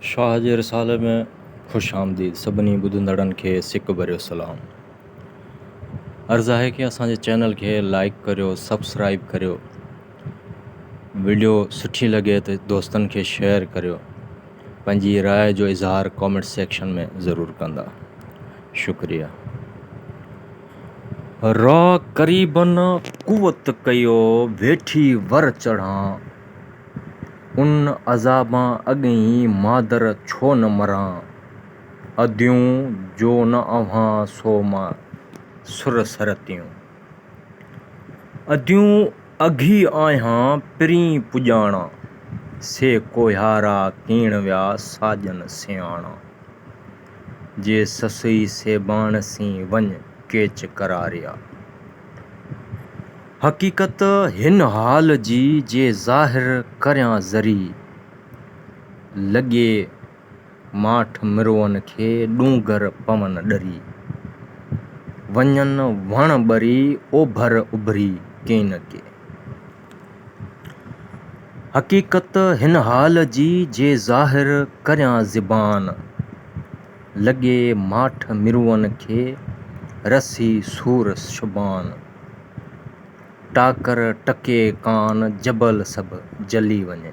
شاهه جي رسالي ۾ خوش آمديد سڀني ٻڌندڙن کي سڪ ڀريو سلام عرض آهي ڪي اسان جي چينل کي لائيڪ ڪريو سبسڪرائيب ڪريو وڊيو سٺي لڳي ته دوستن کي شيئر ڪريو پنهنجي راء جو اظهار ڪامينٽ سيڪشن ۾ ضرور ڪندا شڪريا را قريبن قوت ڪيو ويٺي ور چڙهان ان عذابان اڳهين مادر ڇو نه مران. اديون جو نه اوهان سو مان سر سرتيون. اديون اگهي آهيان پرين پڄاڻا. سي ڪوهيارا ڪيڻ ويا ساڄن سياڻا. جي سسئي سيباڻ سين وڃ ڪيچ ڪراريا. حقيقت هن حال جي جي ظاهر ڪريان ذري لڳي ماٺ مروئن کي ڏونگر پون ڏري. وڃن وڻ ٻري اوڀر اڀري ڪين ڪي. حقيقت هن حال جي جي ظاهر ڪريان زبان، لڳي ماٺ مروئن کي رسي سور شبان. ٽاڪر ٽڪي ڪان جبل سڀ جلي وڃي،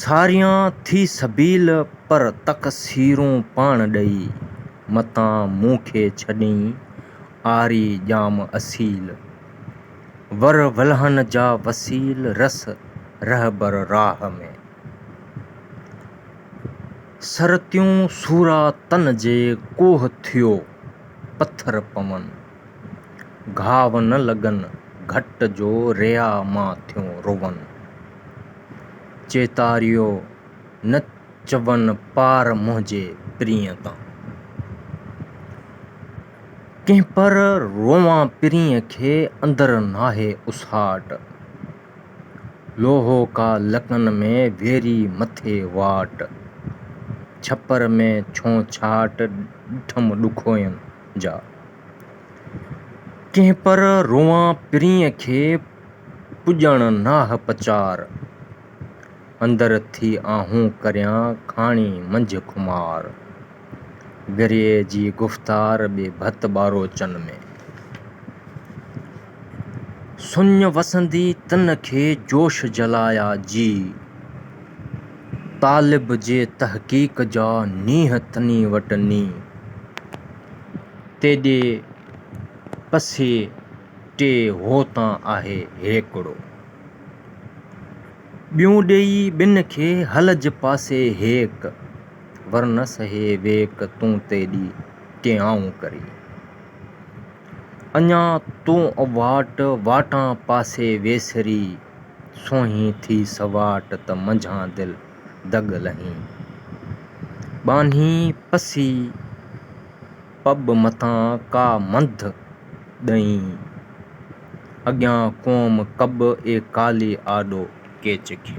ساريان ٿي سبيل پر تقصيرون پاڻ ڏئي، متان مون کي ڇڏين آري ڄام اصيل، ور ولهن جا وسيل رس رهبر راهه ۾، سر تيون سورا تن جي ڪوهه ٿيو پٿر پون، گهاو نه لڳن گهٽ جو ريا مان ٿيون روون، چيتاريو نه چون پار منهنجي پرينء تان. ڪنهن پر روئان پرينء کي اندر ناهي اساٽ. لوهو ڪا لڪن ۾ ويري مٿي واٽ. ڇپر ۾ ڇونڇاٽ ڏٺم ڏکوين جا. ڪنهن پر روئان پرينء کي پڄڻ ناهه پچار. اندر ٿي آهون ڪريان ڪھاڻي منجهه خمار. گريء جي گفتار ٻي ڀت ٻاروچن ۾. سڃ وسندي تن کي جوش جلايا جي. طالب جي تحقيق جا نينهن تني وٽ ني. تيڏي پسي ٽي هو تان آهي هيڪڙو. ٻيون ڏيئي ٻن کي هلج پاسي هيڪ. ورنه سهي ويڪ تون تيڏي ٽيئائون ڪري. اڃا تون اواٽ واٽان پاسي ويسري. سونهين ٿي سواٽ ته منجهان دل دڳ لهين. ٻانهين پسي پٻ مٿان ڪا منڌ ڏئين، اڳيان قوم ڪٻ اي ڪالي آڏو ڪيچ کي.